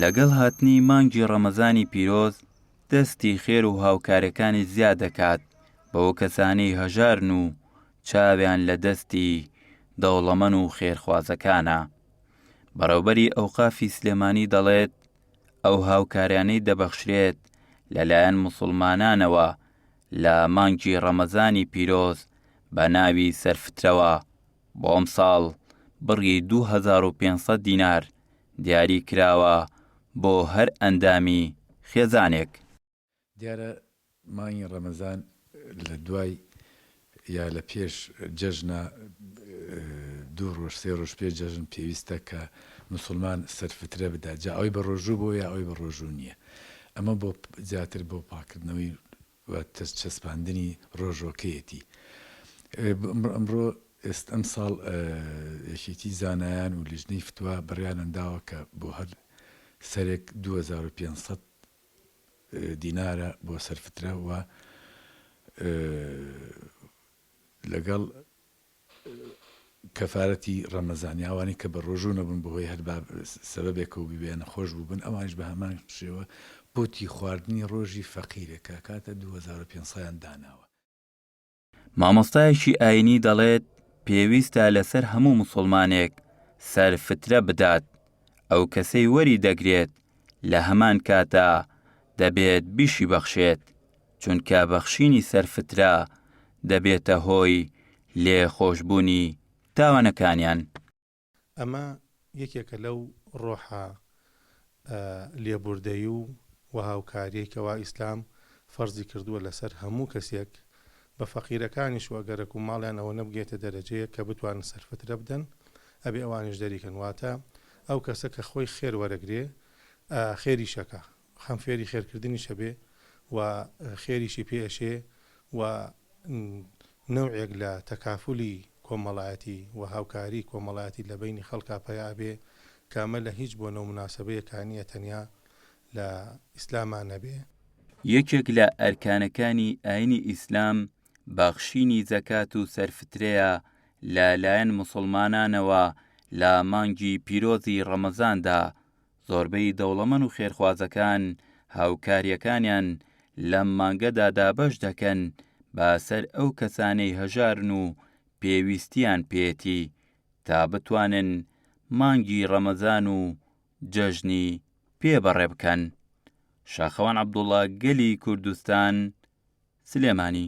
لەگەڵ هاتنی مانگی ڕەمەزانی پیرۆز دەستی خێر و هاوکارەکانی زیاد دەکات بەوە کەسانی هەژارن و چاویان لە دەستی دەوڵەمەن و خێرخوازەکانە بەڕێوبەری ئەوقافی سلێمانی دەڵێت ئەو هاوکاریانەی دەبەخشرێت لەلایەن مسلمانانەوە لە مانگی ڕەمەزانی پیرۆز بە ناوی سەرفترەوە بۆ ئەمساڵ بڕی دوو هەزار و پێنج سەد دینار دیاری کراوە بۆ هەر ئەندامی خێزانێک. دیارە مانگی ڕەمەزان لە دوای یا لە پێش جەژنە دوو ڕۆژ سێ ڕۆژ پێش جەژن پێویستە کە موسڵمان سەر فترە بدات جا ئەوەی بە ڕۆژوو بووە یا ئەوەی بە ڕۆژوو نییە ئەمە بۆ زیاتر بۆ پاککردنەوەی و چەسپاندنی ڕۆژۆکەیەتی ئمڕۆ ئێست ئەمساڵ یەکێتی زانایان و لیژنەی فتوا بڕیانان داوە کە بۆ هەر سەرێک دوو هەزار و پێنج سەد دینارە بۆ سەر فترە و لەگەڵ کەفارەتی ڕەمەزانی ئەوانەی کە بەڕۆژوو نەبوون بەهۆی هەر با سەبەبێکەوە ببێ نەخۆش بووبن ئەوانیش بەهەمان شێوە قوتی خواردنی ڕۆژی فەقیرێک کە ئەکاتە دوو هەزار و پێنج سەیان داناوە. مامۆستایەکی ئاینی دەڵێت، پێویستە لەسەر هەموو موسڵمانێک سەر فترە بدات، ئەو کەسەی وەری دەگرێت لە هەمان کاتا دەبێت بیشی بەخشێت، چونکە بەخشینی سەرفترە دەبێتە هۆی لێ خۆشبوونی تاوانەکانیان. ئەمە یەکێکە لەو ڕۆحە لێبوردەی و وهاوکاریەی کەوا ئیسلام فەرزی کردووە لەسەر هەموو کەسێک، بە فەقیرەکانیش و ئەگەرەک و ماڵیان ئەوە نەبگەیتە دەرەجەیەک کە بتوانن سەرفترە بدەن ئەبێ ئەوانیش دەریکەن واتە ئەو کەسە کە خۆی خێر وەرەگرێ خێریشەکە خەم فێری خێرکردنیش ئەبێ و خێریشی پێ ئەشێ و نەوعێک لە تەکافولی کۆمەڵایەتی و هاوکاری کۆمەڵایەتی لە بەینی خەڵکا پەیا ئەبێ کە ئەمە لە هیچ بۆنە و موناسەبەیەکا نییە تەنیا لە ئیسلاما نەبێ. یەکێک لە ئەرکانەکانی ئاینی ئیسلام بەخشینی زەکات و سەرفترەیە لە لایەن موسڵمانانەوە لە مانگی پیرۆزی ڕەمەزاندا، زۆربەی دەوڵەمەن و خێرخوازەکان هاوکاریەکانیان لەم مانگەدا دابەش دەکەن با سەر ئەو کەسانەی هەژارن و پێویستیان پێێتی تا بتوانن مانگی ڕەمەزان و جەژنی پێ بەڕێ بکەن. شاخەوان عەبدوڵا گەلی کوردستان سلێمانی